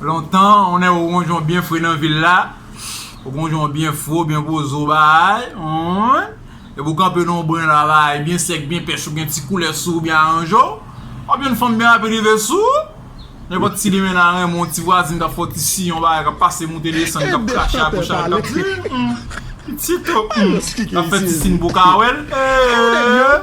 Lontan, on nèg ou gon jon byen fre nan vil la, ou gon jon byen fre, ou byen poze bagay, ouin, epi ou kanpe nan yon bren la bagay byen sèk, byen pèch, ou gen ti koulè sou ou, ou byen aranje w, wap jwenn fanm byen rapid rive sou ou. Nenpòt ti demen nan renmen w, ti vwazin kap fè w ti siy, yon bagay kap pase moute desann, kap krache a goch a dwat, ouin, pitit o, ouin, kap fè ti siy pou w ka wè l, ee.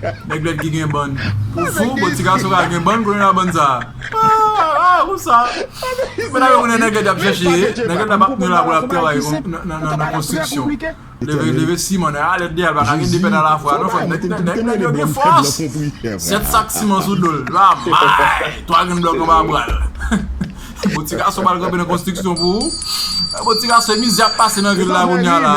Nèg lèd ki gen bann pou fou bon ti gason ka gen bann kounye la bann sa aah aah ou sa men nan yo konnen nèg lèd yap chèche ye nèg lèd la pa kounye la pou lap travay nan konstriksyon leve leve siman nèg la lèd deyèl paka gen 2 pèn a la fwa non frèm nèg lèd yo gen fòs 7 sak siman sou dol la maay 3 grenn blòk anba bral bon ti gason pral kanpe nan konstriksyon pou ou bon ti gason se mizè yap pase nan vil la kounye la.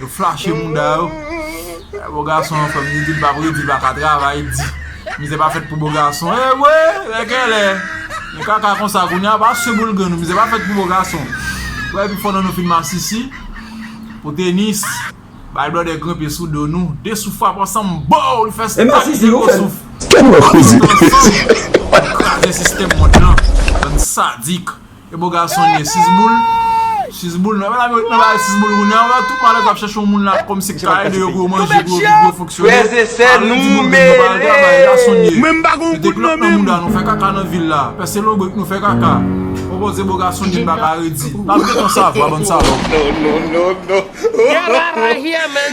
Yo flache mouda yo. Bo gason an fèm di dil pap redi li paka travay di mizè pa fèt pou bo gason ewe lè genlè gen kaka konsa kounya pa sou boul grenn mizè pa fèt pou bo gason wè epi fò nan nou fin masisi pou tenis bay blòdè grenpe sou do nou de sou frap ansanm boww li fè stat zero souf tout ansanm pou kraze sistèm mond lan bann sadik. E bo gason li ye sizboul Sizboul nan Mèdam yo nan bay sizboul kounye a Tout malèt ap chèche yon moun la Kòm si ka ede yo pou yo manje Pou yo viv pou yo fonksyone Frèz e sè nou mele Mwen m pa gon kout nan men m Nou fè kaka nan vil la Pèse lonbrik nou fè kaka Bon bon ze bo gason li m baka redi N ap gen tan sa vwa bann salòp Get outta here man.